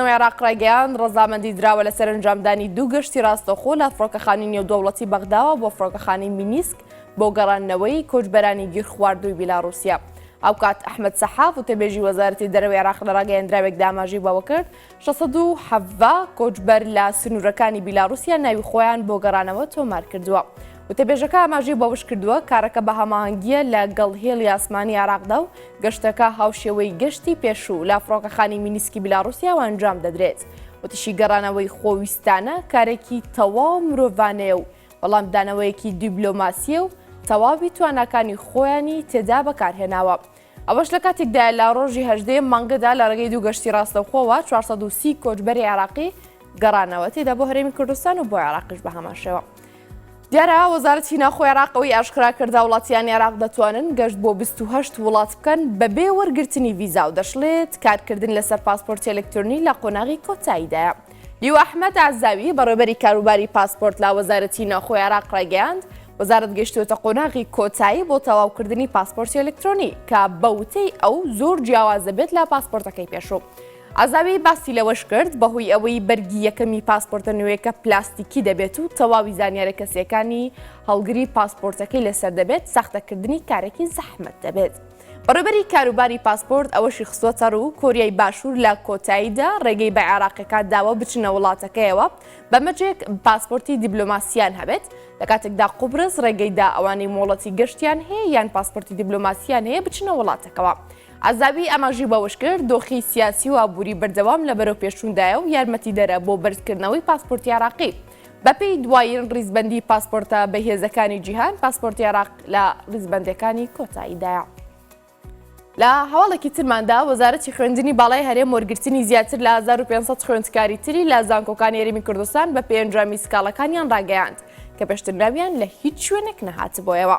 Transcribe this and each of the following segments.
نەوەی عێراق ڕایگەیاند، ڕەزامەندی دراوە لە سەرەنجامدانی دوو گەشتی ڕاستەوخۆ لە فڕۆکەخانی نێودەوڵەتی بەغداوە بۆ فڕۆکەخانەی مینیسک بۆ گەڕاندنەوەی کۆچبەرانی گیرخواردووی بیلاڕوسیا. هاوکات ئەحمەد سەحاف وتەبێژی وەزارەتی دەرەوەی عێراق لە ڕاگەیەندراوێکدا ئاماژەی بەوە کرد، شەش سەد و حەڤدە کۆچبەر لە سنوورەکانی بیلاڕوسیا ناوی خۆیان بۆ گەڕانەوە تۆمار کردووە. وتەبێژەکە ئاماژەی بەوەشکردووە، کارەکە بە هەماهەنگییە لە گەڵ هێڵی ئاسمانی عێراقدا و گەشتەکە هاوشێوەی گەشتی پێشوو لە فڕۆکەخانی مینیسکی بیلاڕوسیاوە ئەنجام دەدرێت. وتیشی گەڕانەوەی خۆویستانە کارێکی تەواو مرۆڤانەیە و وەڵامدانەوەیەکی دیبلۆماسییە و تەواوی تواناکانی خۆیانی تێدا بەکارهێناوە. ئەوەش لە کاتێکدایە لە ڕۆژی هەژدەیەم مانگەدا لە ڕێگەی دوو گەشتی ڕاستەوخۆوە 430 کۆچبەری عێراقی گەڕانەوە تێدا بۆ هەرێمی کوردستان و بۆ عێراقیش بە هەماشەوە. دیارە وەزارەتی ناخۆ عێراقەوەی ئاشکرا کردا وڵاتیان عێراق دەتوانن گەشت بۆ 28 وڵات بکەن بەبێ وەرگرتنی ڤیزا و دەشڵێت کارکردن لەسەر پاسپۆرتی ئەلکترۆنی لە قۆناغی کۆتاییدایە. لیوا ئەحمەد عەزاوی، بەڕێوەبەری کاروباری پاسپۆرت لە وەزارەتی ناوخۆی عێراق ڕایگەیاند، وەزارەت گەیشتووەتە قۆناغی کۆتایی بۆ تەواوکردنی پاسپۆرتی ئەلکترۆنی کە بە وتەی ئەو زۆر جیاواز دەبێت لە پاسپۆرتەکەی پێشوو. عەزاوی باسی لەوەش کرد، بەهۆی ئەوەی بەرگی یەکەمی پاسپۆرتە نوێیەکە پلاستیکی دەبێت و تەواوی زانیارە کەسییەکانی هەڵگری پاسپۆرتەکەی لەسەر دەبێت، ساختەکردنی کارێکی زەحمەت دەبێت. بەڕێوبەری کاروباری پاسپۆرت ئەوەشی خستوەتەڕوو، کۆریای باشوور لە کۆتاییدا ڕێگەی بە عێراقیەکان داوە بچنە وڵاتەکەیەوە بەمەرجێک پاسپۆرتی دیبلۆماسییان هەبێت، لەکاتێکدا قوبرس ڕێگەیدا ئەوانەی مۆڵەتی گەشتیان هەیە یان پاسپۆرتی دیبلۆماسییان هەیە بچنە وڵاتەکەوە. عەزاوی ئاماژەی بەوەشکرد، دۆخی سیاسی و ئابووری بەردەوام لە بەرەوپێشچووندایە و یارمەتیدەرە بۆ بەرزکردنەوەی پاسپۆرتی عێراقی، بەپێی دوایین ڕیزبەندی پاسپۆرتە بەهێزەکانی جیهان پاسپۆرتی عێراق لە ڕیزبەندەکانی کۆتاییدایە. لە هەواڵێکی ترماندا وەزارەتی خوێندنی باڵای هەرێم وەرگرتنی زیاتر لە 1500 خوێندکاری تری لە زانکۆکان یاریمی کوردستان بە پێنجامی سکاڵەکانیان ڕاگەیاند کە پێشترناویان لە هیچ شوێنێک نەهاتبوویەوە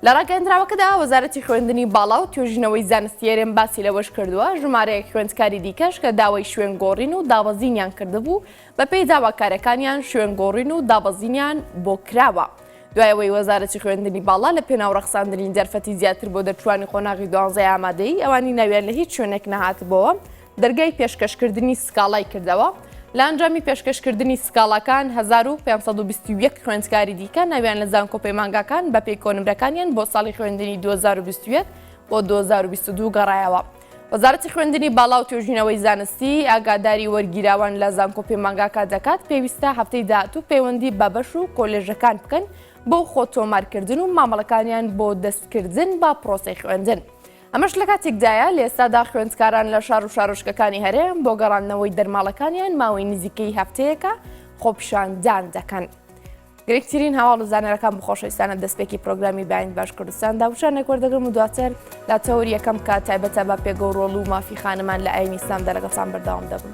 لە ڕاگەندراوەکەدا وەزارەتی خوێندنی باڵا و توێژینەوەی زانستیێرێن باسی لەوەش کردووە ژمارەیەک خوێندکاری دیکەش کە داوای شوێن گۆڕین و دابەزینیان کردبوو بەپێی داواکارەکانیان شوێنگۆڕین و دابەزینیان بۆ کراوە. دوای ئەوەی وەزارەتی خوێندنی باڵا لە پێناو ڕەخساندنی دەرفەتی زیاتر بۆ دەرچووانی قۆناغی دوانزەی ئامادەیی ئەوانی ناویان لە هیچ شوێنێک نەهاتبۆوە، دەرگای پێشکەشکردنی سکاڵای کردەوە، لە ئەنجامی پێشکەشکردنی سکاڵاکان هەزار و پێنج سەد و بیست و یەک خوێندکاری دیکە ناویان لە زانکۆ پەیمانگاکان بەپێی کۆنمرەکانیان بۆ ساڵی خوێندنی دوو هەزار و بیست و یەک بۆ دوو هەزار و بیست و دوو گەڕایەوە. وەزارەتی خوێندنی باڵا و توێژینەوەی زانستی ئاگاداری وەرگیراوان لە زانکۆ پەیمانگاکە دەکات پێویستە هەفتەی داهاتوو پەیوەندی بە بەش و کۆلێژەکان بکەن بۆ خۆ تۆمارکردن و مامەڵەکانیان بۆ دەستکردن بە پرۆسەی خوێندن. ئەمەش لە کاتێکدایە لە ئێستادا خوێندکاران لە شار و شارۆچکەکانی هەرێم بۆ گەڕاندنەوەی دەرماڵەکانیان ماوەی نزیکەی هەفتەیەکە خۆپیشاندان دەکەن. گرنگترین هەواڵ و زانەرەکان بخۆشەویستانە دەستپێکی پرۆگرامی بەین باش کوردستان داوچانێک وەردەگرم و دواتر دا تەور یەکەم کا تایبەتە بە پێگە و ڕۆڵ و مافی خانمان لە ئاینی ئیسلام دەرەگەسان بەرداوام دەبن.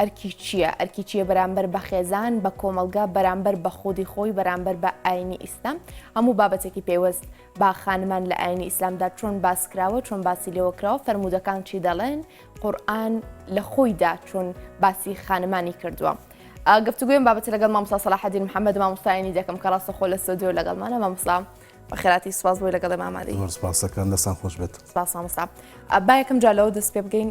ئەرکی چییە؟ ئەرکی چییە بەرامبەر بە خێزان، بە کۆمەڵگە، بەرامبەر بە خودی خۆی، بەرامبەر بە ئاینی ئیسلام، هەموو بابەتێکی پەیوەست بە خانمان لە ئاینی ئیسلامدا چۆن باسکراوە، چۆن باسی لێوەکراوە، فەرموودەکان چی دەڵێن، قورئان لە خۆیدا چۆن باسی خانمانی کردووە. گفتوگوێم بابەتە لەگەڵ مامۆستا سەلاحەدین محەممەد مامۆستایانی دەکەم کە ڕاستەخۆ لە ستۆدیۆ لەگەڵمانە مامۆستا بەخێراتی سوپاس بۆی لەگەڵ ئێمە ئامادەی. زۆر سپاس دەکەم دەستتان خۆش بێت. سپاس مامۆستا. با یەکەم جار لەوە دەست پێ بکەین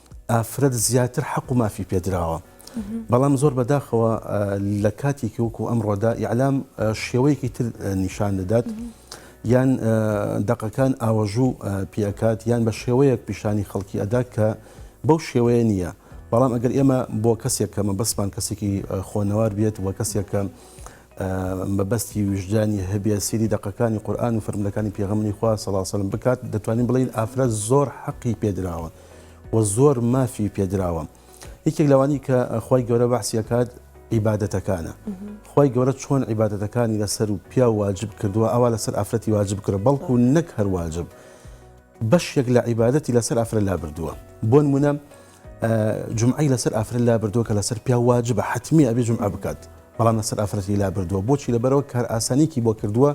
ئافرەت زیاتر حەق و مافی پێدراوە بەڵام زۆر بەداخەوە لە کاتێکی وەکو ئەمڕۆدا ئیعلام شێوەیەکی تر نیشان دەدات یان دەقەکان ئاوەژوو پێکات یان بە شێوەیەک پیشانی خەڵکی ئەدا کە بەو شێوەیە نییە بەڵام ئەگەر ئێمە بۆ کەسێک کە مەبەستمان کەسێکی خۆنەوار بێت و کەسێکە مەبەستی وژدانی هەبێ سری دەقەکانی قورآان و فرملەکانی پێغمنی خوا سەڵاسەلم بکات دەتوانین بڵین ئافرەت زۆر حەقی پێدراوە و زۆر مافی پێدراوە یەکێک لەوانی کە خی گەورە بەحسیەکات عیباەتەکانە خی گەورە چۆن عیباەتەکانی لەسەر و پیا واجب کردووە ئەوا لەسەر ئافرەتی واجب کرە بەڵکو نەک هەر واجب بەشێک لە عیباەتی لەسەر ئافرە لا بردووە بۆن منە جمعی لەسەر ئافرە لا بردووە کە لەسەر پیا واجبە حتممی ئەبێ جمع بکات بەڵام لەسەر ئافرەتی لا بردووە بۆچی لەبەرەوە کار ئاسانێکی بۆ کردووە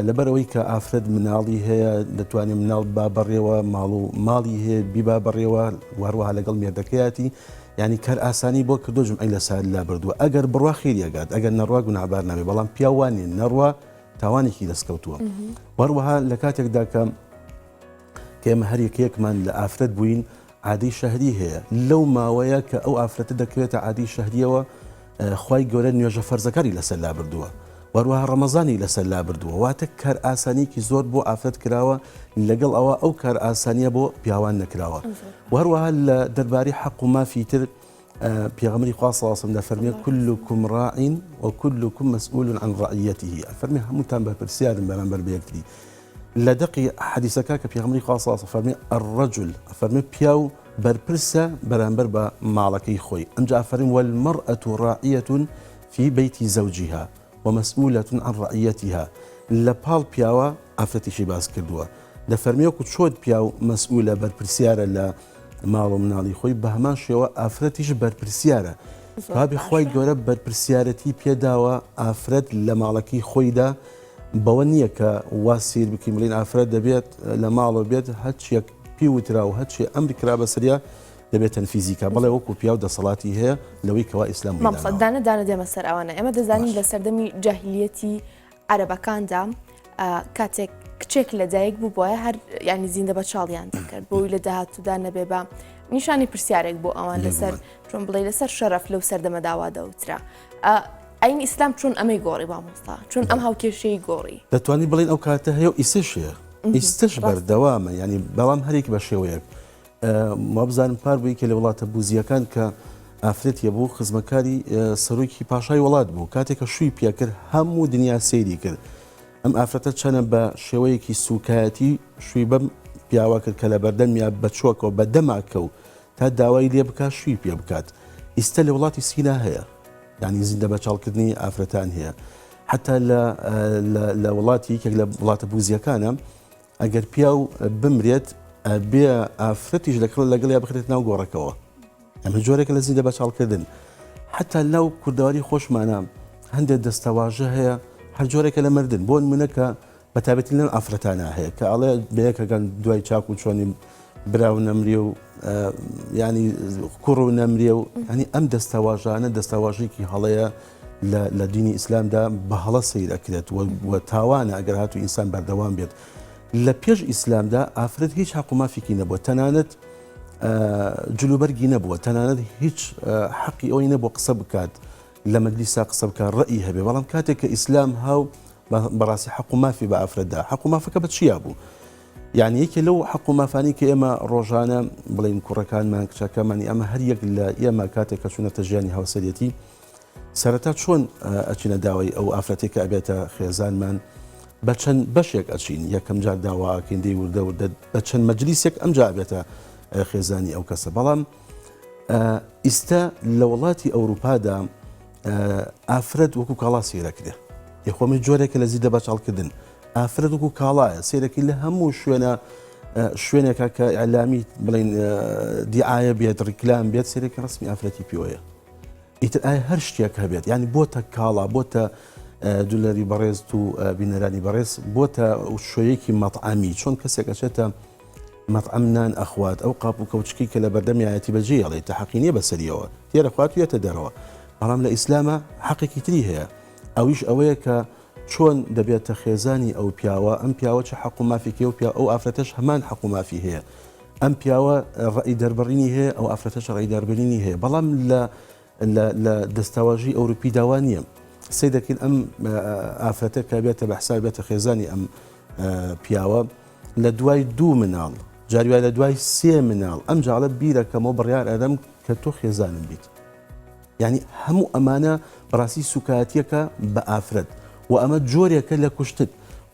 لەبەرئەوەی کە ئافرەت مناڵی هەیە دەتوانێت مناڵ ببا بەڕێوە ماڵ و ماڵی هەیە بیبا بەڕێوە وهروەها لەگەڵ مێردەکەیاتی یعنی کار ئاسانی بۆ کردو جمعی لە سار لا بردووە ئەگەر بڕوا خێریەگات ئەگەر نەڕوا گونابار نابێت بەڵام پیاوانی نەڕوا تاوانێکی دەستکەوتووە وهروەها لە کاتێکدا کە کێمە هەریەکێکمان لە ئافرەت بووین عادی شەهری هەیە لەو ماوەیە کە ئەو ئافرەتە دەکەوێتە عادی شەهریەوە خوای گەورە نوێژە فەرزەکانی لەسەر لابردووە وەروەها ڕەمەزانی لەسەر لابردووە واتە کار ئاسانیکی زۆر بۆ ئافرەت کراوە لەگەڵ ئەوە ئەو کار ئاسانیە بۆ پیاوان نەکراوە وەروەها لە دەرباری حەق و مافی تر پێغەمبەری خوا صلی اللە علیە و سلم دەفەرموێت کلکم راع و کلکم مسئول عن رعیته ئەفەرموێت هەمووتان بەرپرسیارن بەرامبەر بە یەکتری لە دەقی حەدیسەکە کە پێغەمبەری خوا صلی اللە علیە و سلم فەرموێت الرجل ئەفەرموێت پیاو بەرپرسە بەرامبەر بە ماڵەکەی خۆی ئەمجا ئەفەرموێت والمرأة راعیە فی بیت زوجها ومسئولە عن رعیتها لە پاڵ پیاوە ئافرەتیشی باس کردووە دەفەرموێت وەکو چۆن پیاو مسئولە بەرپرسیارە لە ماڵو مناڵی خۆی بەهەمان شێوە ئافرەتیش بەرپرسیارە بابی خی گەورە بەرپرسیارەتی پێداوە ئافرەت لە ماڵەکەی خۆیدا بەوە نییە کە وا سیر بکەین بڵین ئافرەت دەبێت لە ماڵەوە بێت هەچیەک پی وترا و هەچی ئەم بکرا بەسریا دەبێت تەنفیزیکا بڵێ وەکو پیا و دەسەڵاتی هەیە لەوەی کەوا ئیسلام مامسەدانە دانە دێمە سەر ئەوانە ئێمە دەزانین لە سەردەمی جاهلیەتی عەرەبەکاندا کاتێک کچێک لە دایک بوو بۆە هەر ینی زیندە بە چاڵیان دەکرد بۆی لە داهاتوودا نەبێ بە نیشانی پرسیارێک بۆ ئەوان لەسەر چۆن بڵێ لەسەر شەرف لەو سەردەمەداوا دەوترا ئەین ئیسلام چۆن ئەمەی گۆڕی بامۆستا چۆن ئەم هاوکێشەی گۆڕی دەتوانی بڵین ئەو کاتە هەیە ئیسش هەیە ئیستش بەردەوامە ینی بەڵام هەرێک بە شێوەیەک وابزانم پار بوو یەکێ لە وڵاتە بوزییەکان کە ئافرەتیە بوو خزمەکاری سەرۆکی پاشای وڵات بوو کاتێک کە شووی پێکرد هەموو دنیا سەیری کرد ئەم ئافرەتە چەنە بە شێوەیەکی سوکایەتی شووی بەم پیاوە کرد کە لە بەردەم یا بەچۆکەوە بە دەماکە و تا داوای لێ بک شووی پێ بکات ئیستا لە وڵاتی سینا هەیە ینی زیندە بەچاڵکردنی ئافرەتان هەیە حتا لە وڵاتی یەکێک لە وڵاتە بوزیەکانە ئەگەر پیاو بمرێت ئەبێ ئافرەتیش لە کڵ لەگەڵ یا بخرێت ناو گۆڕەکەەوە ئەمە جۆرێک لە زیندە بەچاڵکردن حتا لەو کوردەواری خۆشمانە هەندێک دەستەواژە هەیە هەر جۆرێکە لە مردن بۆن منەکە بەتابەتی لەم ئافرەتانە هەیە کە ئەڵێ بەیەکەکان دوای چاک و چۆنی برا و نەمرێ و ینی کوڕ و نەمرێ و ئەنی ئەم دەستەواژانە دەستەواژێکی هەڵەیە لە دینی ئیسلامدا بە هەڵە سیرەکرێت و تاوانە ئەگەر هاتو ئینسان بەردەوام بێت لە پێش ئیسلامدا ئافرەت هیچ حق و مافێکی نەبووە تەنانەت جلوبەرگی نەبووە تەنانەت هیچ حەقی ئەوی نەبوو قسە بکات لە مەجلیسا قسە بکە ڕئی هەبێ بەڵام کاتێک کە ئیسلام هاو بەڕاستی حق و مافی بە ئافرەتدا حق و مافەکە بە چیا بوو یانی یەکێ لەو حەق و مافانی کە ئێمە ڕۆژانە بڵێین کوڕەکانمان کچەکەمانی ئەمە هەر یەک لە ئێمە کاتێک کە چوونەتە ژیانی هاوسەرەتی سەرەتا چۆن ئەچینە داوای ئەو ئافرەتێک کە ئەبێتە خێزانمان بە چەند بەشێک ئەچین یەکەم جار داواکەین دەی وردە وردە بە چەند مەجلیسێک ئەم جابێتە خێزانی ئەو کەسە بەڵام ئیستا لە وڵاتی ئەوروپادا ئافرەت وەکو کاڵا سیرەکرێ یخۆمی جۆرێکە لە زیدە بەچڵکردن ئافرەت وەکو کاڵایە سیرەکی لە هەموو شوێنە شوێنێکە کە ئەلامی بڵین دیعاە بێت ڕیکلام بێت سیرەکی ڕسمی ئافرەتی پێوەیە ئیتر ئایا هەر شتێک هەبێت ینی بۆتە کاڵا بۆتە دولەری بەڕێز و بینەرانی بەڕێز بۆتە شوەیەکی مەطعامی چۆن کەسێک ئەچێتە مەطعم نان ئەخوات ئەو قاپ و کەوچکی کە لە بەردەمیایەتی بەجێ ئەڵێ تەحقینیە بەسەریەوە تێرەخوات وێتە دەرەوە بەڵام لە ئیسلامە حەقێکی تری هەیە ئەویش ئەوەیە کە چۆن دەبێتە خێزانی ئەو پیاوە ئەم پیاوە چ حەق و مافێکی ئەو پیاوە ئەو ئافرەتەش هەمان حەق و مافی هەیە ئەم پیاوە ڕەئی دەربڕینی هەیە ئەو ئافرەتەش ڕێی دەربرینی هەیە بەڵام لە لە دەستاواژی ئەوروپی داوا نییە سەی دەکەین ئەم ئافرەتە کە بێتە بە حساب بێتە خێزانی ئەم پیاوە لە دوای دوو مناڵ جاریوای لە دوای سێ مناڵ ئەم جاڵە بیرەکەمەوە بڕیار ئەدەم کە تۆ خێزانم بیت یانی هەموو ئەمانە بەڕاستی سوکایەتیەکە بە ئافرەت وە ئەمە جۆرێکە لە کوشتن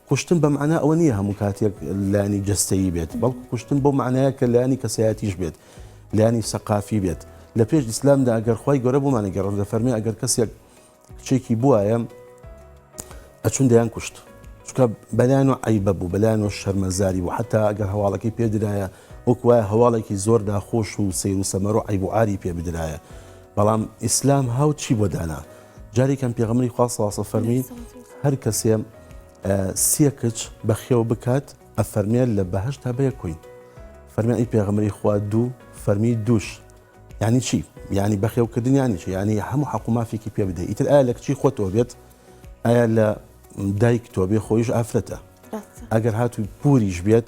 کوشتن بە مەعنا ئەوە نییە هەموو کاتێک لانی جەستەیی بێت بەڵکو کوشتن بۆ معناە کە لانی کەسایەتیش بێت لانی سەقافی بێت لە پێش ئیسلامدا ئەگەر خی گەۆرە بۆمانە گەڕن لە فەرمی ئەگەر کەسێک کچێکی بواە ئەچون دەیان کوشت چکە بەلایەن و عیبە بوو بەلایەن و شەرمەزاری و حتا ئەگەر هەواڵەکەی پێدرایە وەک وایە هەواڵێکی زۆر ناخۆش و سەیر و سەمەر و عەیب و عاری پێ بدرایە بەڵام ئیسلام ها و چی بۆ دانا جارێکم پێغەمبەری خوا صلی الله فەرمی هەر کەسێ سێ کچ بەخێو بکات ئەفەرمێن لە بەهشت تا بەیە کوین فەرمی ئەی پێغەمبەری خوا دوو فەرمی دوش یعنی چی یعنی بەخێوکردن یانی چی یعنی هەموو حەق و مافێکی پێ بدە ئیتر ئایا لە کچی خۆتەوە بێت ئایا لە دایک تۆ بێ خۆیش ئافرەتە ئەگەر هاتوو پوریش بێت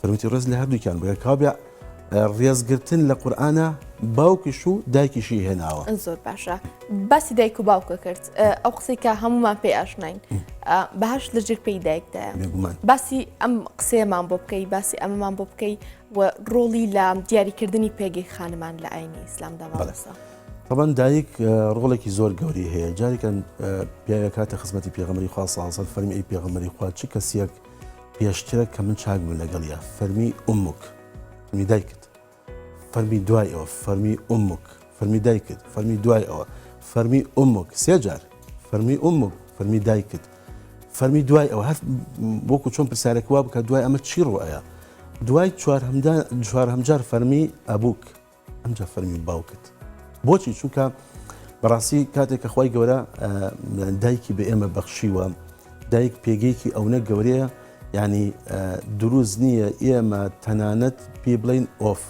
سەروەتی ڕێز لە هەردووکیان بگە کابرا ڕێزگرتن لە قورآە باوکش و دایکیشی هێناوە زۆر باشە باسی دایک و باوکە کرد ئەو قسەی کە هەمومان پێ ئاشنین بەهاش لە جر پێی دایکدا باسی ئەم قسەیەمان بۆ بکەی باسی ئەمەمان بۆ بکەی و ڕۆڵی لە دیاریکردنی پێگەی خانمان لە ئاینی ئیسلامدا بەڵسە. طبعا دایک ڕۆڵێکی زۆر گەوری هەیە جارێکن پیاوەکاتە خزمەتی پێغمەری خوا سازە فەرمی پێغمەری خوا چ کەسیەک پێشترە کە من چاک بم لەگەڵ یا فەرمی ئومک فەرمی دایکت فەرمی دوای ئەوە فەرمی ئومک فەرمی دایکت فەرمی دوای ئەوە فەرمی ئومک سێجار فەرمی ئومک فەرمی دایکت فەرمی دوای ئەوە هەر بۆکو چۆن پرسیارێک وا بکە دوای ئەمە چی ڕوایە دوای چوار هەمجار فەرمی ئەبووک ئەمجا فەرمی باوکت بۆچی چونکە بەڕاستی کاتێک کە خی گەورە دایکی بە ئێمە بەخشیوە دایک پێگەیەکی ئەونە گەورەیە ینی دروست نییە ئێمە تەنانەت پێ بڵین ئۆف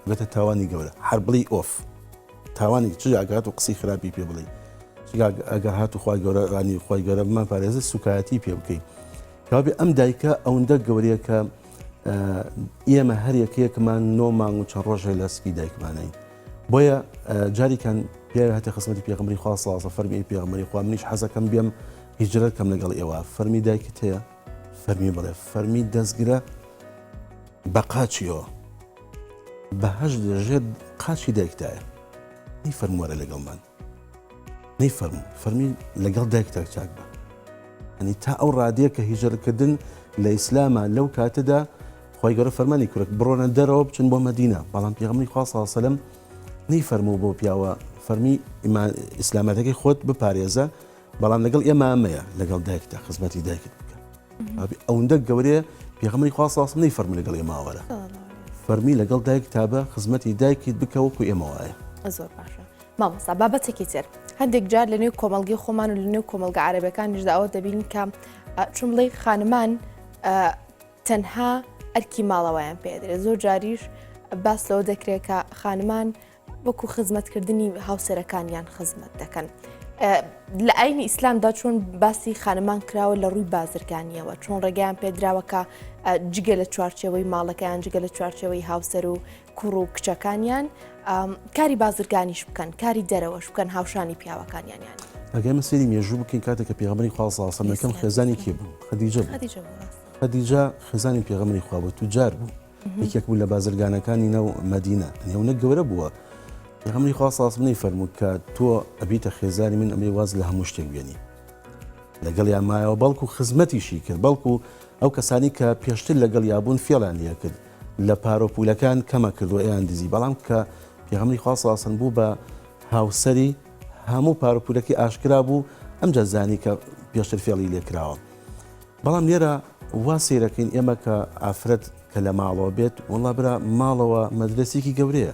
بێتە تاوانی گەورە هەر بڵی ئۆف تاوانی چ ئاگات و قسەی خراپی پێ بڵی ئەگەر هات و خخوای گەورە ڕانی خخوای گەورە بمان پارێزە سوکایەتی پێ بکەین کابێ ئەم دایکە ئەوەندە گەورەیە کە ئێمە هەر یەکەیەکمان نۆ مانگ و چە ڕۆژێ لە سکی دایکمانین بۆیە جاریکان پێ هەتی خزمەتی پێغمبری خوا سازە فەرمی پێغمەری خوا منیش حەزەکەم بێم هیجرەت کەم لەگەڵ ئێوە فەرمی دایکت هەیە فەرمی بڵێ فەرمی دەستگرە بە قاچیەوە بەهش لەژێت قاچی دایکدایە هی فەرموارە لەگەڵمان نەی فەرموو فەرمی لەگەڵ دایکتا چاک بە ئەنی تا ئەو ڕادەیە کە هیژرکردن لە ئیسلامە لەو کاتەدا خۆی گەۆرە فەرمانی کورک بڕۆنە دەرەوە بچن بۆ مدینە بەڵام پیغمری خواسەسەلم نەی فەرموو بۆ پیاوە فەرمی ئیسلامەتەکەی خۆت بپارێزە بەڵام لەگەڵ ئێمامەیە لەگەڵ دایکتا خزمەتی دایکت بکە ئەوەندە گەورەیە پیغمری خواسەسم نەی فەرمی لەگەڵ ئێماوەرە فەرمی لەگەڵ دایک تابە خزمەتی دایکیت بکەوەکو ئێمەوەە زۆر باشە مامۆستا بابەتێکی تر هەندێک جار لە نێو کۆمەلگی خۆمان و لە نێو کۆمەلگە عربەکانیشدا ئەوە دەبین کە چون بڵێ خانمان تەنها ئەرکی ماڵەوەیان پێدرێت زۆر جاریش باس لەوە دەکرێت کە خانمان وەکو خزمەتکردنی هاوسەرەکانیان خزمەت دەکەن. لە ئاینی ئیسلامدا چۆن باسی خانمان کراوە لە ڕووی بازرگانیەوە چۆن ڕێگەیان پێدراوەکە جگە لە چوارچەوەی ماڵەکەیان جگە لە چوارچەوەی هاوسەر و کوڕ و کچەکانیان کاری بازرگانیش بکەن کاری دەرەوەش بکەن هاوشانی پیاوەکانیان یان ئەگەر من سری مێژوو بکەین کاتێک کە پێغەمبەری خوا صلی الله علیه و سلم یەکەم خێزانی کێ بوو خدیجە خدیجە خێزانی پێغەمبەری خوا بوو توجار بوو یەکێک بوو لە بازرگانەکانی ناو مدینە نێونە گەورە بووە پێغەمبەری خوا صلی الله علیه و سلم فەرموو کە تۆ ئەبیتە خێزانی من ئەمێ واز لە هەموو شتێک بێنی لەگەڵ یان مایەوە بەڵکو خزمەتیشی کرد بەڵکو ئەو کەسانی کە پێشتر لەگەڵ یابوون فێڵان یە کرد لە پارەو پولەکان کەمە کردوە ئێان دزی بەڵام کە پیغەمبەری خوا صلی سەلم بوو بە هاوسەری هەموو پارو پولەکی ئاشکرا بوو ئەمجا زانی کە پێشتر فێڵی لێ کراوە بەڵام لێرە وا سیرەکەین ئێمە کە ئافرەت کە لە ماڵەوە بێت وڵا برا ماڵەوە مەدرسێکی گەورەیە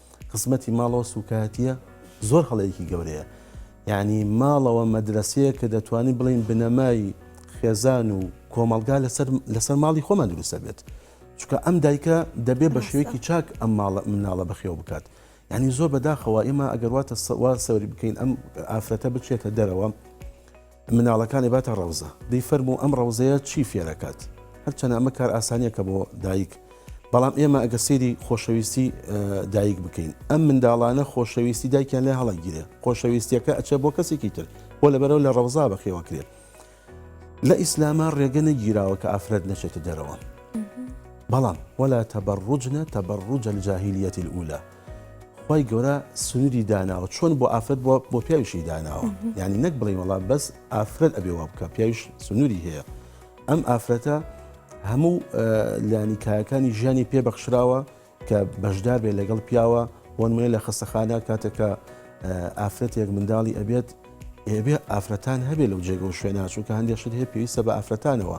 خزمەتی ماڵەوە سوکایەتیە زۆر هەڵەیەکی گەورەیە یانی ماڵەوە مەدرەسەیە کە دەتوانین بڵین بنەمای خێزان و کۆمەڵگا لەسەر لەسەر ماڵی خۆمان دروستە بێت چکە ئەم دایکە دەبێ بە شوێکی چاک ئەم ماڵە مناڵە بەخێو بکات ینی زۆر بەداخەوە ئێمە ئەگەرواتە سەوا سەوری بکەین ئەم ئافرەتە بچێتە دەرەوە مناڵەکانی باتە ڕەوزە. دەی فەرموو ئەم ڕەوزەیە چی فێرەکات؟ هەرچەنە ئەمە کار ئاسانیەکە بۆ دایک بەڵام ئێمە ئەگەر سەیری خۆشەویستی دایک بکەین ئەم منداڵانە خۆشەویستی دایکیان لێ هەڵەگیرێ خۆشەویستیەکە ئەچێ بۆ کەسێکی تر بۆ لەبەرەوە لە ڕەوزا بەخێوەکرێت لە ئیسلاما ڕێگە نەگیراوە کە ئافرەت نەچێتە دەرەوە بەڵام وەلا تەبەڕوجنە تەبەڕوجە جاهیلیەتی ئولا خوای گەورە سنوری داناوە چۆن بۆ ئافرەت بووە بۆ پیاویشی داناوە یعنی نەک بڵێ وڵا بەس ئافرەت ئەبێ وا بکە پیاویش سنووری هەیە ئەم ئافرەتە هەموو لانی کایەکانی ژیانی پێبەخشراوە کە بەشدار بێ لەگەڵ پیاوە بۆنمێ لە خەستەخانە کاتێکە ئافرەتێک منداڵی ئەبێت ئێبێ ئافرەتان هەبێ لەو جێگە و شوێناچوو کە هەندێک شت هەیە پێویستە بە ئافرەتانەوە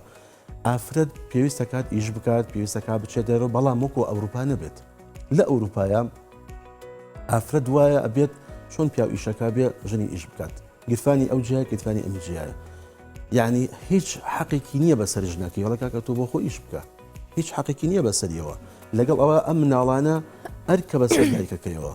ئافرەت پێویستەکات ئیش بکات پێویستەکە بچێت دەرەوە بەڵام وەکو ئەوروپا نەبێت لە ئەوروپایا ئافرەت وایە ئەبێت چۆن پیاو ئیشەکە بێ ژنی ئیش بکات گرفانی ئەو جیا گرفانی ئەم جیایە یعنی هیچ حەقێکی نییە بەسەر ژنەکە یڵە کاکە تۆ بۆ خۆ ئیش بکە هیچ حەقێکی نییە بەسەریەوە لەگەڵ ئەوە ئەم مناڵانە ئەرکە بەسەر دایکەکەیەوە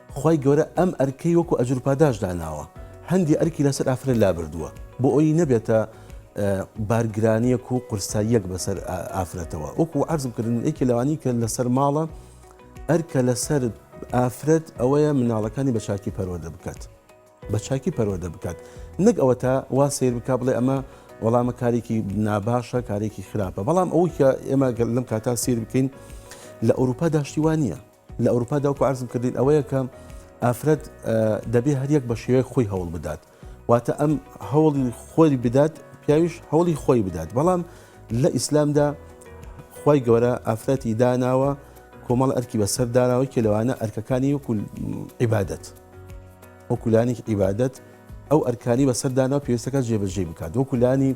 خوای گەورە ئەم ئەرکەی وەکو ئەجرو پاداشت داناوە هەندی ئەرکی لەسەر ئافرەت لابردووە بۆ ئەوی نەبێتە بارگرانیەک و قورساییەک بەسەر ئافرەتەوە وەکو عرضم کردن یەکی لەوانی کە لەسەر ماڵە ئەرکە لەسەر ئافرەت ئەوەیە مناڵەکانی بە چاکی پەروەدە بکات بە چاکی پەروەدە بکات نەک ئەوە تا وا سیر بک بڵێ ئەمە وەڵامە کارێکی ناباشە کارێکی خراپە بەڵام ئەوکە ئێمە گەل لەم کاتا سیر بکەین لە ئەوروپا داشتیوان نییە لە ئەوروپادا وەکو عەرزم کردین ئەوەیە کە ئافرەت دەبێ هەریەک بە شێوەیە خۆی هەوڵ بدات واتە ئەم هەوڵی خۆی بدات پیاویش هەوڵی خۆی بدات بەڵام لە ئیسلامدا خی گەورە ئافرەتی داناوە کۆمەڵ ئەرکی بەسەر داناوە کە لەوانە ئەرکەکانی وەکو عیبادەت وەکولانی عیبادەت ئەو ئەرکانی بەسەر داناوە پێویستەکە جێبەجێ بکات وەکولانی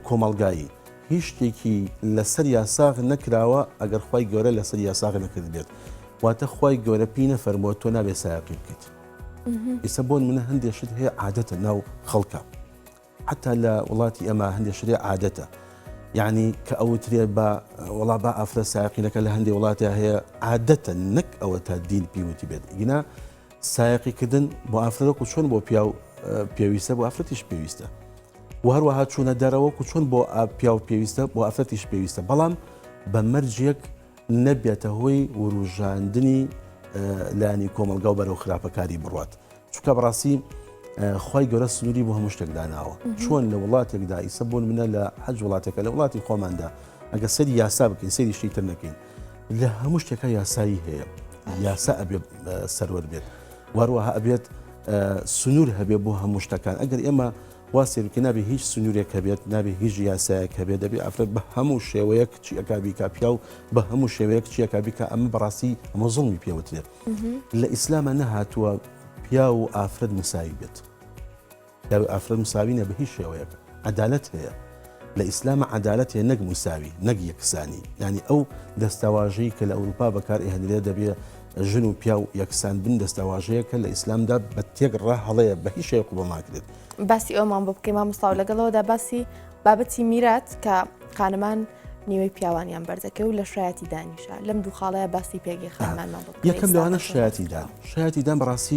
کۆمەلگایی هیچ شتێکی لەسەر یاساغ نەکراوە ئەگەر خوای گەورە لەسەر یاساغ نەکردبێت واتە خوای گەورە پێی نەفەرمووە تۆ نابێ سایەقی بکەیت ئیسە بۆن منە هەندێک شت هەیە عادەتە ناو خەڵکە حتا لە وڵاتی ئەمە هەندێک شتێ عادەتە یعنی کە ئەوترێ بە وڵا بە ئافرە ساقینەکە لە هەندێک وڵاتە هەیە عادەتە نەک ئەوە تا دین پیوتی بێت گینا سایقیکردن بۆ ئافرەکو چۆن بۆ پیاو پێویستە بۆ ئافرەتیش پێویستە و هەروەها چوونە دەرەوە و چۆن بۆ پیاو پێویستە بۆ ئافرەتیش پێویستە بەڵام بە مەرجێک نەبێتە هۆی وروژاندنی لانی کۆمەلگا و بەرەو خراپەکاری بڕات چکە بڕاستی خی گەورە سنووری بۆ هەموو شتێک داناوە چۆن لە وڵاتێکدا ئیسە بۆن منە لە حەج وڵاتەکە لە وڵاتی خۆماندا ئەگە سەری یاسا بکەین سەری شتی تر نەکەین لە هەموو شتێکە یاسایی هەیە یاسا ئەبێ سەروەر بێت واروەها ئەبێت سنوور هەبێ بۆ هەموو شتەکان ئەگەر ئێمە وا سێرکە نابێ هیچ سنوورێک هەبێت نابێ هیچ یاسایەک هەبێت دەبێ ئەفرەت بە هەموو شێوەیەک چیەکە بیکا پیا و بە هەموو شێوەیەک چیەکە بیکە ئەمە بەڕاستی ئەمە زڵمی پێوترێت لە ئیسلامە نەهاتووە پیا و ئافرەت مساوی بێت پیاوی ئافرەت مساوی نیە بە هیچ شێوەیەک عەدالەت هەیە لە ئیسلام عەدالەت هەیە نەک موساوی نەک یەکسانی یانی ئەو دەستەواژەی کە لە ئەوروپا بەکار ئێهنرێ دەبێ ژن و پیاو یەکسان بن دەستەواژەیە کە لە ئیسلامدا بە تێک ڕە هەڵەیە بە هیچ شێ قوبڵ ناکرێت باسی ئەومان بۆ بکەی مامۆستااو لەگەڵەوەدا باسی بابەتی میرات کە خانمان نیوەی پیاوانیان بەردەکە و لە شایەتی دانیشە لەم دوو خاڵەیە باسی پێگەی خانمان یەکەم لەوانە شایەتیدان شایەتیدان بەڕاستی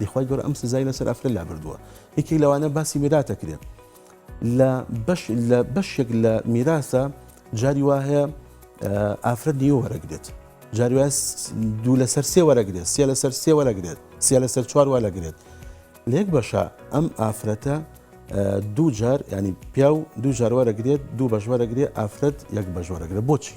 ی خوای گەورە ئەم سزای لەسەر ئەفرەت لابردووە یەکێک لەوانە باسی میراتە کرێت لە بەش لە بەشێک لە میراسە جاری وا هەیە ئافرەت نیوە وەرەگرێت جاروێس دوو لەسەر سێ وەرەگرێت سێ لەسەر سێ وەرەگرێت سێ لەسەر چوار وەرەگرێت لێک بەشە ئەم ئافرەتە دوو جار ینی پیا و دوو جار وەرەگرێت دوو بەژوەرەگرێت ئافرەت یەک بەژوەرەگرێت بۆچی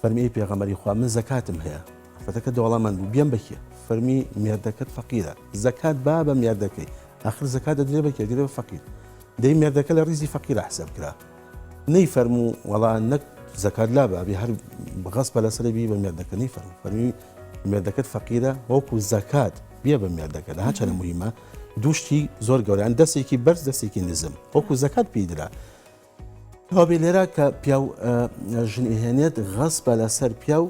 فەرمی ئەی پێغەمبەری خوا من زەکاتم هەیە ئافرەتەکە دەوڵەمەند بوو بیەم بەکێ فەرمی مێردەکەت فەقیرە زەکات با بە مێردەکەی ئاخر زەکات دەدرێ بە کێدرێ بە فەقیر دەی مێردەکە لە ڕیزی فەقیرە حساب کرا نەی فەرموو وەڵا نەک زەکات لا بابی هەر بەغەس بە لەسەر بی بە مێردەکە نەی فەرمو فەرمی مێردەکەت فەقیرە وەکو زەکات بێ بە مێردەکە لە هاچەنە مهمە دوشتی زۆر گەوریان دەستێکی بەرز دەستێکی نزم وەکو زەکات پیدرا جوابی لێرە کە پیاو ژنی هێنێت غەس بە لەسەر پیاو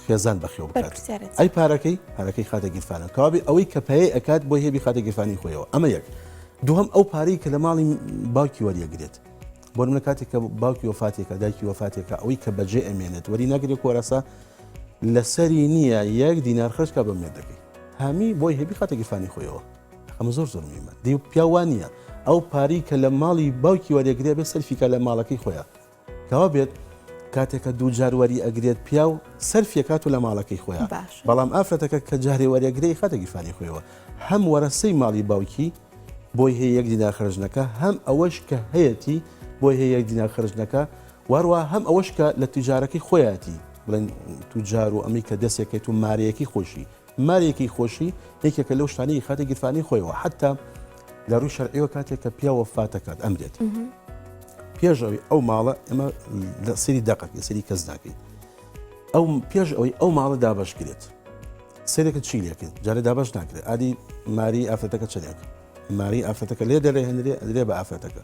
خێزان بەخێو بکات ئەی پارەکەی پارەکەی خاتە گیرفانە کابێ ئەوەی کە پێی ئەکات بۆ هێبی خاتە گیرفانی خۆیەوە ئەمە یەک دووهم ئەو پارەی کە لە ماڵی باوکی وەریەگرێت بۆ منە کاتێک کە باوکی وفاتێکە دایکی وفاتێکە ئەوەی کە بەجێ ئەمێنێت وەری ناگرێ کۆرەسە لەسەری نییە یەک دینار خرجکە بە مێردەکەی هەمی بۆی هێبی خاتە گیرفانی خۆیەوە ئەمە زۆر زۆر مهمە دی پیاو وا نییە ئەو پاری کە لە ماڵی باوکی وەرێگرێ بێ سەرفیکە لە ماڵەکەی خۆیان کەوا بێت کاتێکە دوو جار وەری ئەگرێت پیا و سەرفیەکات و لە ماڵەکەی خۆیان باش بەڵام ئافرەتەکە کە جارێ وەرێگرەی خاتە گیرفانی خۆیەوە هەم وەرەسەی ماڵی باوکی بۆی هەیە یەک دینا خرجنەکە هەم ئەوەش کە هەیەتی بۆی هەیە یەک دینا خرجنەکە واروا هەم ئەوەش کە لە تیجارەکەی خۆیەتی بڵێن توجار و ئەمی کە دەستێکێت و مارەیەکی خۆشی مارێکی خۆشی یەکێکە لەو شتانەی خاتە گیرفانی خۆیەوە حتا لە ڕووی شەرعیوە کاتێک کە پیاوە فاتەکات ئەمرێت پێش ئەوی ئەو ماڵە ئەمە لە سری دەقەک لە سری کەس ناکەیت ئەو پێش ئەوی ئەو ماڵە دابش کرێت سێرێکە چی لەکرد جارە دابش ناکرێت ئادی ماری ئافرەتەکە چنێک ماری ئافرەتەکە لێ دەرێ هەندێ ئەدرێ بە ئافرەتەکە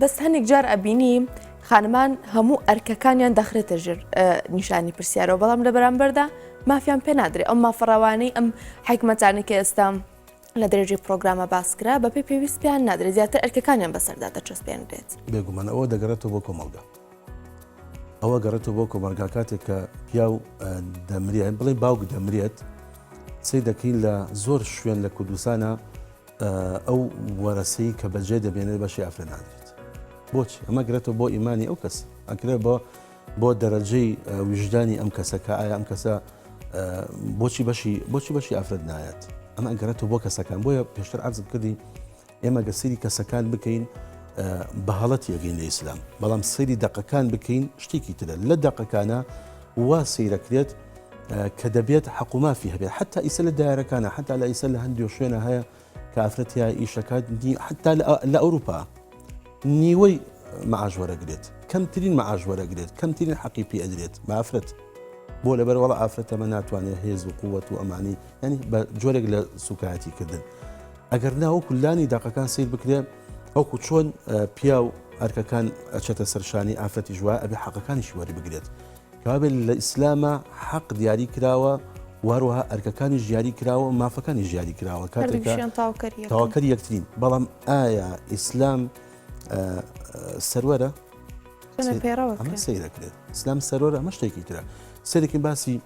بەس هەنێک جار ئەبینی خانمان هەموو ئەرکەکانیان دەخرێتە ژێر نیشانی پرسیارەوە بەڵام لە بەرامبەردا مافیان پێ نادرێ ئەم مافەڕەوانەی ئەم حکمەتانی کە ئێستا لە دەرەجەی پرۆگرامە باسکرا بەپی پێویست پێیان نادرێت زیاتر ئەرکەکانیان بەسەردا دەچەسپێنرێت بێگومان ئەوە دەگەڕێتەوە بۆ کۆمەلگا ئەوە گەڕێتەوە بۆ کۆمەلگا کاتێک کە پیا و دەمرێت بڵێ باوک دەمرێت سی دەکەین لە زۆر شوێن لە کوردستانە ئەو وەرەسەی کە بەجێ دەبێنێت بەشی ئافرە نادرێت بۆچی ئەمە گرێتەوە بۆ ئیمانی ئەو کەس ئەکرێت بۆ بۆ دەرەجەی وژدانی ئەم کەسە کە ئایا ئەم کەسە بۆچی بەشی بۆچی بەشی ئافرەت نایەت ئەمە ئەگەرێتەوە بۆ کەسەکان بۆیە پێشتر عزب کردی ئێمە گە سری کەسەکان بکەین بە هەڵەت یەگەین لە ئیسلام بەڵام سری دقەکان بکەین شتێکی ترە لە دقەکانە وا سەیرەکرێت کە دەبێت حەق و مافی هەبێت حتا ئیسە لە دایرەکانە حتا لە ئیسە لە هەندێک شوێنە هەیە کە ئافرەتیا ئیشەکات حتا لە ئەوروپا نیوەی معاش وەرەگرێت کەمترین معاش وەرەگرێت کەمترین حەقی پێ ئەدرێت بافرەت بۆ لە بەرەوەڵ ئافرەتەمە ناتوانێت هێز و قووەت و ئەمانی ینی بە جۆرێک لە سوکایەتی کردن ئەگەر ناوە کولانی داقەکان سیر بکرێت وەکو چۆن پیاو ئەرکەکان ئەچێتە سەرشانی ئافرەتی ژوا ئەبێ حەقەکانیشی وەری بگرێت کابێت لە ئیسلامە حەق دیاری کراوە واروها ئەرکەکانی ژیاری کراوە مافەکانی ژیاری کراوە کاتێکیان تاواکەری یەکترین بەڵام ئایا ئیسلام سەروەرە سیرەکرێت ئسلام سەرۆر ئەمە شتێکی ترە سەرێکی باسی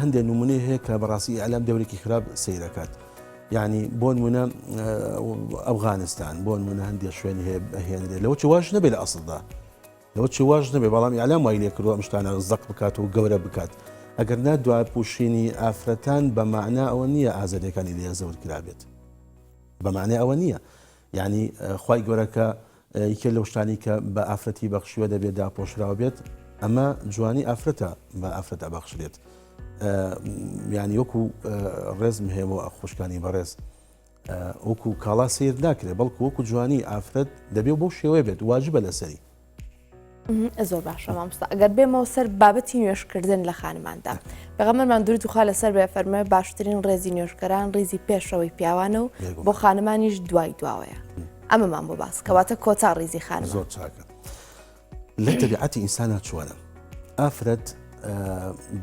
هەندێک نمونەی هەیە کە بەڕاستی ئەلام دەورێکی خراپ سیرەکات یانی بۆنمونە ئەفغانستان بۆنمونە هەندێک شوێنی هەیە بەهێنرێت لەوە چ واش نەبێت لە ئەسڵدا لەوە چ واش نەبێ بەڵام یالام وای لێ کردوە مشتانە زەق بکات و گەورە بکات ئەگەر نا دوای پوشینی ئافرەتان بە معنا ئەوە نییە ئازادەکانی لێ زەوت کرابێت بەمانێ ئەوە نییە یعنی خی گەورەکە یەکێ لەو شتانەی کە بە ئافرەتی بەخشیوە دەبێ داپۆشراو بێت ئەمە جوانی ئافرەتە بە ئافرەت ئەبەخشرێت یانی وەکو ڕێزم هەیە بۆ خوشکانی بەڕێز وەکو کاڵا سیر ناکرێت بەڵکو وەکو جوانی ئافرەت دەبێ بۆ شێوەیە بێت واجبە لەسەری زۆر باشە مامستا ئەگەر بێمەوە سەر بابەتی نوێشکردن لە خانماندا بەغەمەرمان دوور دوخوا لەسەر بێ فەرمە باشترین ڕێزی نوێشکەران ڕیزی پێشەوەی پیاوانە و بۆ خانمانیش دوای دواوەیە ئەمەمان بۆ باس کەواتە کۆتا ڕیزی خان زۆر چاکە لە تەبیعەتی ئینسانە چوارە ئافرەت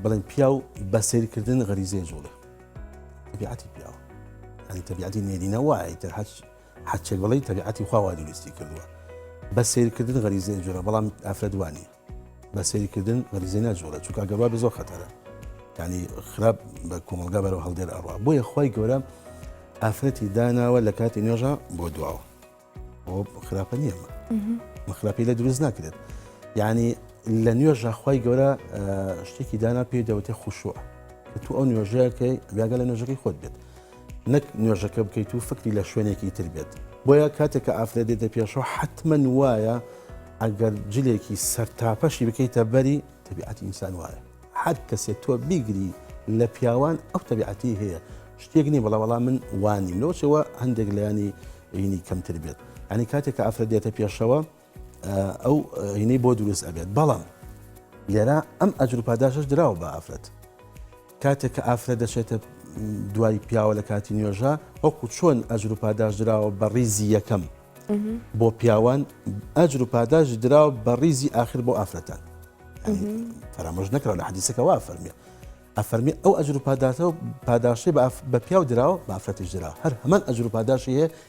بڵێن پیا و بە سیرکردن غەریزێ جوڵە تەبیعەتی پیاوە ئەنی تەبیعەتی نێرینە وایە تر هەچ هەرچێک بڵێی تەبیعەتی خوا وا دروستی کردووە بە سەیرکردن غەریزەی ئەجووڕێ بەڵام ئافرەت وا نییە بە سەیرکردن غەریزەی ناجووڕێ چونکا گەر وا بێ زۆر خەتەرە یعنی خراپ بە کۆمەڵگا بەرەو هەڵدێر ئەڕا بۆیە خوای گەورە ئافرەتی داناوە لە کاتی نوێژە بۆ دواوە بۆ خراپە نییە مە خراپی لە دروست ناکرێت یعنی لە نوێژە خوای گەورە شتێکی دانا پێی دەوتێ خوشوە تو ئەو نوێژەکەی بیاگە لە نوێژەکەی خۆت بێت نەک نوێژەکە بکەیت و فکری لە شوێنێکی تر بێت بۆیە کاتێک کە ئافرەت دێتە پێشەوە حتممەن وایە ئەگەر جلێکی سەر تاپەشی بکەیتە بەری تەبیعەتی ئینسان وایە هەر کەسێت تۆ بیگری لە پیاوان ئەو تەبیعەتی هەیە شتێک نی بڵە وەڵام من وانیم لەوچەوە هەندێک لایانی ینی کەمتر بێت ئەنی کاتێک کە ئافرەت دێتە پێشەوە ئەو هینەی بۆ دروست ئەبێت بەڵام لێرا ئەم ئەجر پاداشش دراوە بە ئافرەت کاتێک کە ئافرەت دەچێتە دوای پیاوە لە کاتی نوێژە وەکو چۆن ئەجر و پاداش دراوە بە ڕیزی یەکەم بۆ پیاوان ئەجر و پاداش دراوە بە ڕیزی آخر بۆ ئافرەتان فەرامۆژ نەکەەوە لە حەدیسەکەەوە فەرمیە ئەفەرمی ئەو ئەجر و پاداتەوە پاداشتی بە پیاو دراوە بافرەتیش درا هەر هەمان ئەجر و پاداشی هەیە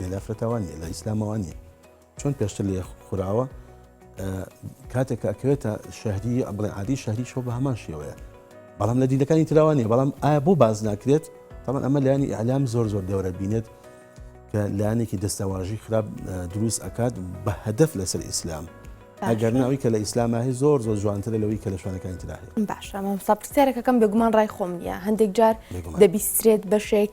لە ئافرەتەوە نیە لە ئیسلامەوە نیە چۆن پێشتر لێ خوراوە کاتێک ئەکەوێتە شەهری بڵێ عادی شەهری شۆ بە هەمان شێوەیە بەڵام لە دیلەکانی تراوانێ بەڵام ئایا بۆ باز ناکرێت تامان ئەمە لایانی ئەلام زۆر زۆر دەورە بینێت کە لایەنێکی دەستەواژی خراپ دروست ئەکات بە هەدەف لەسەر ئیسلام. ئەگەر ناوی کە لە ئیسلاماهی زۆر زۆر جوانترە لەوەی کە لە شوانەکانی تراهەیە باشە مامسا پرسیارەکەکەم بێگومان ڕای خۆم نیە هەندێک جار دەبیسترێت بەشێک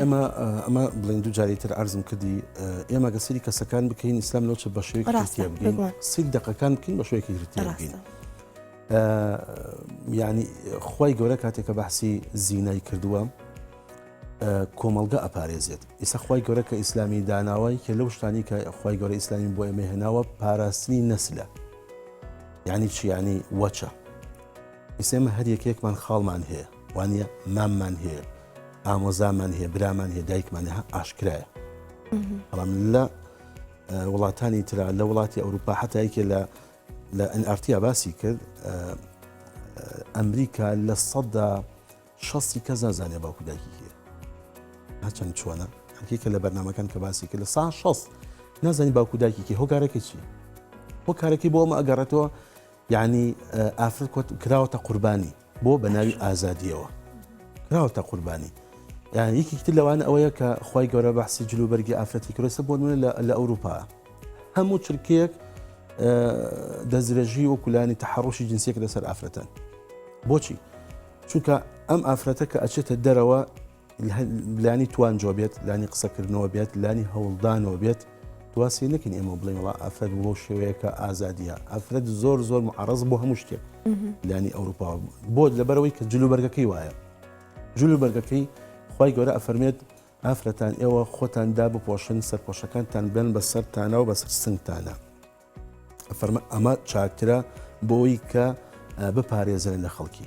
ئێمە ئەمە بڵین دوو جاری تر ئارزم کردی ئێمە گە سری کەسەکان بکەین ئیسلام لەو چ بە شوێ سی دقەکان بکەین بە شوێکی گرتین ینی خی گەورە کاتێکە بەحسی زینای کردووە کۆمەلگە ئەپارێزێت ئیسا خی گەورە کە ئیسلامی داناوای کە لەو شتانی کە خی گەورە ئیسلامی بۆ ئێمە هێناوە پاراستنی نەسلە ینی چیانی وەچە ئیسێمە هەر یەکێکمان خاڵمان هەیە وانیە ماممان هەیە ئامۆزامان هەیە برامان هەیە دایکمان هە ئاشکرایە بەڵام لە وڵاتانی تررا لە وڵاتی ئەوروپا حتایکێ لە لە ئەنئارتیا باسی کرد ئەمریکا لە سەددا شەستی کەس نازانێ باوکو دایکی هەیە هەچەند چۆنە هەکیکە لە بەرنمەکان کە باسی کرد لە سا شەست نازانی باوکو دایکیکی هۆکارەکە چی هۆکارەکەی بۆ ئەمە ئەگەڕێتەوە یعنی ئافر کراوەتە قوربانی بۆ بەناوی ئازادیەوە کراوەتە قوربانی یان یەکێکی تر لەوانە ئەوەیە کە خی گەورە بەحسی جلو بەرگی ئافرەتی کرۆسە بۆ نوێ لە ئەوروپا هەموو چرکەیەک دەستدرێژی و کولانی تەحڕۆشی جنسێک لەسەر ئافرەتەن بۆچی چونکە ئەم ئافرەتە کە ئەچێتە دەرەوە لانی توانجۆ بێت لانی قسەکردنەوە بێت لانی هەوڵدانەوە بێت دواسی نکن ئێمە بڵێ وڵا ئەفرەت بۆ شێوەیەەکە ئازادیە ئەفرەت زۆر زۆر معڕز بۆ هەموو شتێک لانی ئەوروپا بۆ لەبەرەوەی کە جلوبەرگەکەی وایە جلوبەرگەکەی خی گەورە ئەفەرمێت ئافرەتان ئێوە خۆتان دا بپۆشن سەرپۆشەکانتان بێن بە سەرتانە و بەسەر سنگتانە ئەفەرمە ئەمە چاکترە بۆی کە بپارێزن لە خەڵکی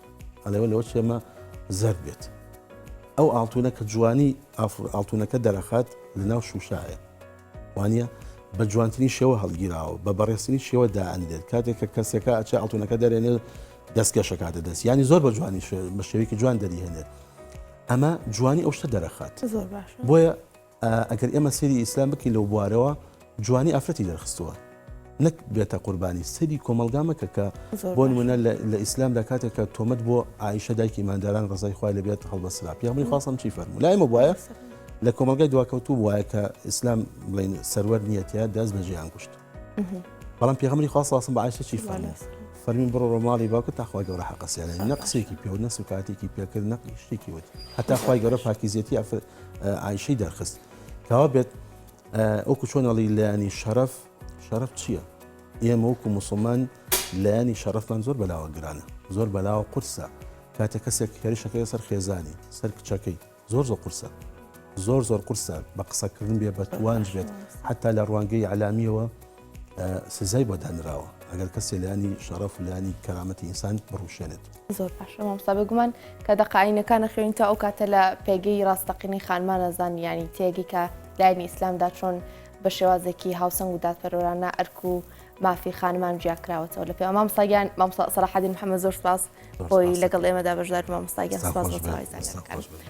ئەڵێ لەوە چ ئێمە زەرد بێت ئەو ئاڵتونە کە جوانی ئافر ئاڵتونەکە دەرەخات لە ناو شوشاە وانە بە جوانترین شێوە هەڵگیراوە بە بەڕێستنی شێوە دائەنرێت کاتێک کە کەسەکە ئەچ ئاڵتونەکە دەرێنێت دەستکەشەکاتە دەست ینی زۆر بە جوانی بە شێوێکی جوان دەریهێنێت ئەمە جوانی ئەو شتە دەرەخات بۆیە ئەگەر ئێمە سەیری ئیسلام بکەین لەو بوارەوە جوانی ئافرەتی دەرخستووە نەک بێتە قوربانی سەیری کۆمەڵگا مەکە کە زۆر بۆ باش نمونە لە لە ئیسلامدا کاتێک کە تۆمەت بۆ عائیشە دایکی ماداران ڕزای خوای لە بێت هەڵبەسرا پیامبەری خوا سەم چی فەرموو لای مە بواە لە کۆمەلگای دواکەوتوو بواە کە ئیسلام بڵین سەروەر نیەتە دەست بە جیان کوشت بەڵام پیغمبری خوا ساسم بە عائیشە چی فەرموو فەرمین بڕۆ ڕۆماڵی باوکە تاخوای گەورە حەقەسیانە نە قسێکی پێ و نە سوکاتێکی پێکرد نە شتێکی وت هەتا خوای گەورە پاکیزیەتی ئافرەت عیشەی دەرخست کاوا بێت ئەوکو چۆنەڵی لایانی شەرف شەرف چییە؟ ئێمە وەکو مسلمان لایانی شەرفمان زۆر بەلاوە گرانە زۆر بەلاوە قرسە کاتە کەسێک هێرشەکەی سەر خێزانی سەر کچەکەی زۆر زۆر قرسە زۆر زۆر قرسە بە قسەکردن بێ بە توانج بێت حتا لە ڕوانگەی علامیەوە سزای بۆ دانراوە ئەگەر کەسێ لانی شەڕەف لانی کەرامەتی ئینسان بڕوشێنێت زۆر باش مامستا بگومان کە دەقاینەکانە خوێن تا ئەو کاتە لە پێگەی ڕاستەقینی خانمانە زانیانی تێگی کە لایەنی ئیسلامدا چۆن بە شێوازێکی هاوسەنگ و دادپەرۆرانە ئەرک و مافی خانمان جیاکراوەتەوە لە پێ مامساگیان مامسا سەراحدین محەممە زۆر سپاس بۆی لەگەڵ ئێمەدا بەشدار مامساگیان سپاس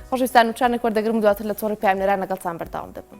خۆشویستان و چانێک وەردەگرم دواتر لە تۆڕی پامێران لەگەڵتان بەرداوام دەبم.